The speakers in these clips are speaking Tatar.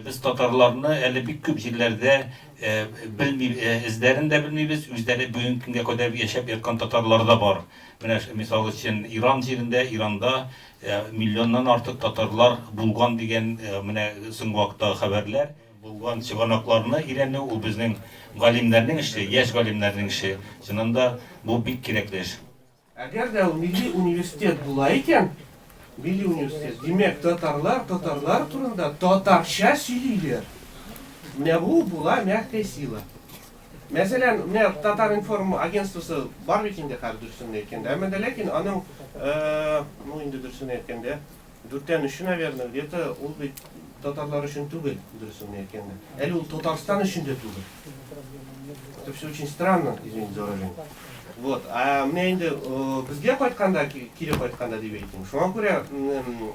Без татарларны әле бик күп җирләрдә белми, эзләрен дә белмибез, үзләре бүгенге көнгә кадәр яшәп яткан татарлар да бар. Менә мисал өчен Иран җирендә, Иранда миллионнан артык татарлар булган дигән менә соңгы вакыттагы хәбәрләр. Булган чыганакларны өйрәнү ул безнең галимнәрнең эше, яшь галимнәрнең эше. Чыннан да бу бик кирәкле эш. Әгәр дә ул милли университет була икән, милли университет, димәк, татарлар татарлар турында татарча сөйлиләр. Менә бу була мягкая сила. Мәсәлән, менә Татар информ агентствосы бар бит инде хәзер дөресен әйткәндә. Әмма дә ләкин аның, э, ну инде дөресен әйткәндә, Дүрттән өче, наверное, где-то ул бит татарлар өчен түгел, дөресен генә әйткәндә. Әле ул Татарстан өчен дә түгел. Это все очень странно, извините за выражение. Вот. А менә инде э, безгә кайтканда, ки- кире кайтканда дип әйтим. Шуңа күрә м,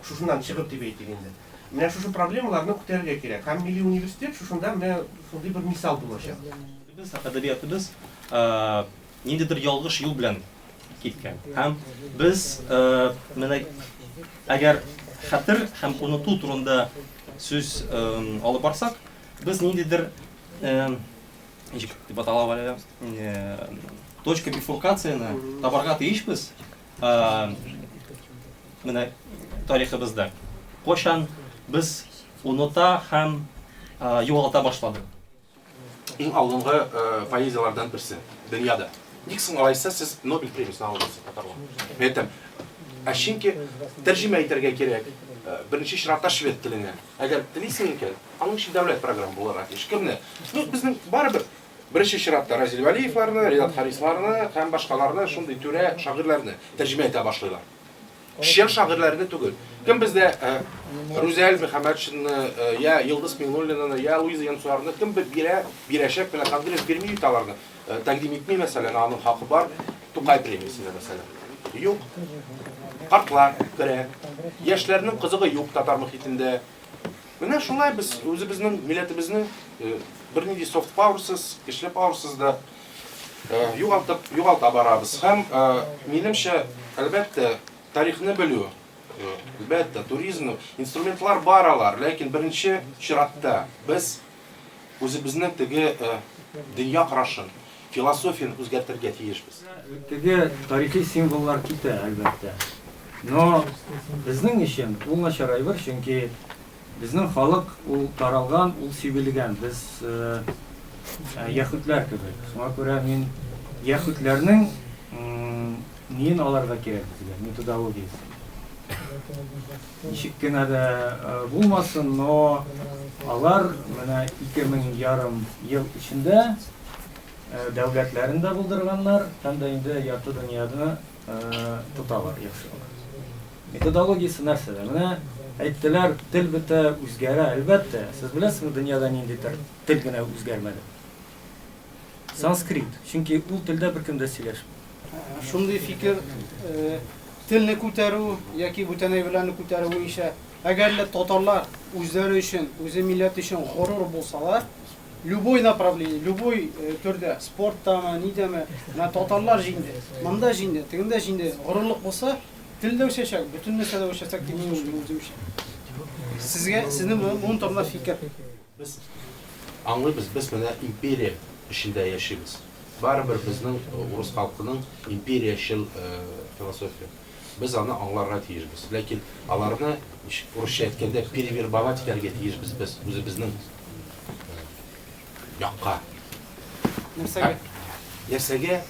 шушыннан чыгып дип әйтик инде. Менә шушы проблемаларны күтәрергә кирәк. Һәм милли университет шушында менә шундый бер мисал булачак. Без әдәбиятыбыз э, ниндидер ялгыш юл белән киткән. Һәм без менә әгәр хәтер һәм оныту турында сүз алып барсак, без ниндидер ничек дип атала әле точка бифуркацияне табарга тиешбез менә тарихыбызда. Кайчан без оныта һәм югалта башладык? Иң алдынгы поэзияләрдән берсе, дөньяда. Ник соң алайса сез Нобель премиясен алдыгыз, татарлар? Мин әйтәм, ә чөнки тәрҗемә итәргә кирәк, беренче чиратта швед теленә. Әгәр телисең икән, аның өчен дәүләт программы булырга тиеш. Кемне? Ну, безнең барыбер беренче чиратта Разил Вәлиевларны, Ренат Харисларны һәм башкаларны, шундый түрә шагыйрьләрне тәрҗемә итә башлыйлар. Чын шагыйрьләрне түгел. Кем бездә Рүзәл Мөхәммәтшинны, я Йолдыз Миңнуллинаны, я Луиза Янсуарны кем бирә, бирәчәк белә Конгресс бирми бит аларны. Тәкъдим итми, мәсәлән, аның хакы бар. Тукай премиясенә, мәсәлән. Юк. Картлар керә. Яшьләрнең кызыгы юк татар мөхитендә. Менә шулай без үзебезнең милләтебезне бернинди софт пауэрсыз, көчле пауэрсыз да югалтып, югалта барабыз. Һәм, минемчә, әлбәттә, тарихны белү, әлбәттә, туризмның инструментлар бар алар, ләкин беренче чиратта без үзебезнең теге дөнья карашын, философияне үзгәртергә тиешбез. Теге тарихи символлар китә, әлбәттә. Но безнең өчен ул начарайыр, чөнки Безнең халык ул таралган, ул сибелгән. Без яхүдләр кебек. Шуңа күрә мин яхүдләрнең неен аларга кирәк безгә, методологиясен. Ничек кенә дә булмасын, но алар менә ике мең ярым ел эчендә дәүләтләрен дә булдырганнар һәм дә инде ярты дөньяны тоталар яхшы гына. Методологиясе нәрсәдә? Менә әйттеләр, тел бетә, үзгәрә. Әлбәттә, сез беләсезме, дөньяда ниндидер тел генә үзгәрмәде? Санскрит. Чөнки ул телдә беркем дә сөйләшми. Шундый фикер телне күтәрү яки бүтән әйберләрне күтәрү буенча, әгәр лә татарлар үзләре өчен, үзе милләт өчен горур булсалар, Любой направление, любой төрдә, спорттамы, нидәме, менә татарлар җиңде, монда җиңде, тегендә җиңде, горурлык булса, тел дә үсәчәк, бөтен нәрсә дә үсәчәк дип мин уйлыйм үземчә. Сезгә, сезнең моның турында фикер? Без аңлыйбыз, без менә империя эчендә яшибез. Барыбер безнең урыс халкының империячел философия. Без аны аңларга тиешбез. Ләкин аларны, урысча әйткәндә, перевербовать итәргә тиешбез без, үзебезнең якка. Нәрсәгә? Нәрсәгә?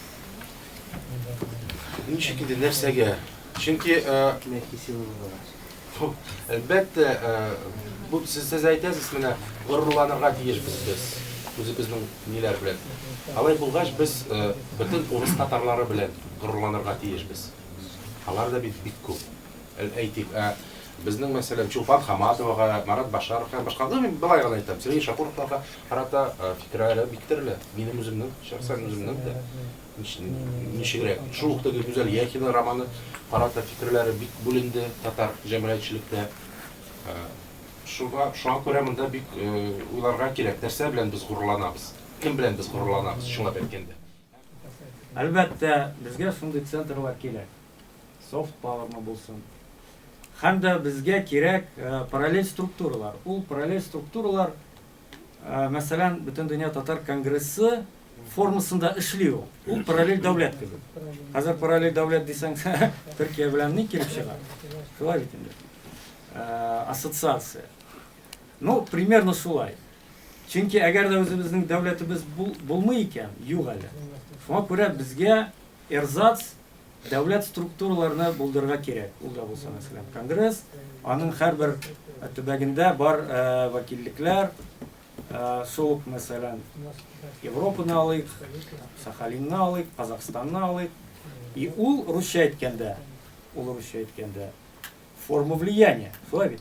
Ничек инде нәрсәгә? Чөнки, Әлбәттә, бу сез әйтәсез, менә горурланырга тиешбез без үзебезнең ниләр белән. Алай булгач, без бөтен урыс татарлары белән горурланырга тиешбез. Алар да бит бик күп. Әйтик, ә безнең, мәсәлән, Чулпан Хаматовага, Марат Башаровка һәм башка, ну, мин болай гына әйтәм, Сергей Шакуровларга карата фикерләре бик төрле. Минем үземнең, шәхсән үземнең дә. Ничегрәк? Шул ук теге Гүзәл Яхина романы карата фикерләре бик бүленде татар җәмәгатьчелектә. Шуңа, шуңа күрә монда бик уйларга кирәк, нәрсә белән без горурланабыз, кем белән без горурланабыз, чынлап әйткәндә. Әлбәттә, безгә шундый центрлар кирәк. Soft power мы булсын. Һәм дә безгә кирәк параллель структуралар. Ул параллель структуралар, Мәсәлән, Бөтендөнья татар конгрессы формасында эшли ул. Ул параллель дәүләт кебек. Хәзер параллель дәүләт дисәң, Төркия белән ни килеп чыга? Шулай бит инде. Ассоциация. Ну, примерно шулай. Чөнки әгәр дә үзебезнең дәүләтебез булмый икән, юк әле. Шуңа күрә безгә Эрзац дәүләт структураларны булдырырга кирәк. Ул да булса, мәсәлән, конгресс, аның һәрбер төбәгендә бар вәкиллекләр, шул ук, мәсәлән, Европаны алыйк, Сахалинны алыйк, Казахстанны алыйк. И ул русча әйткәндә, ул русча әйткәндә форма влияния, шулай бит?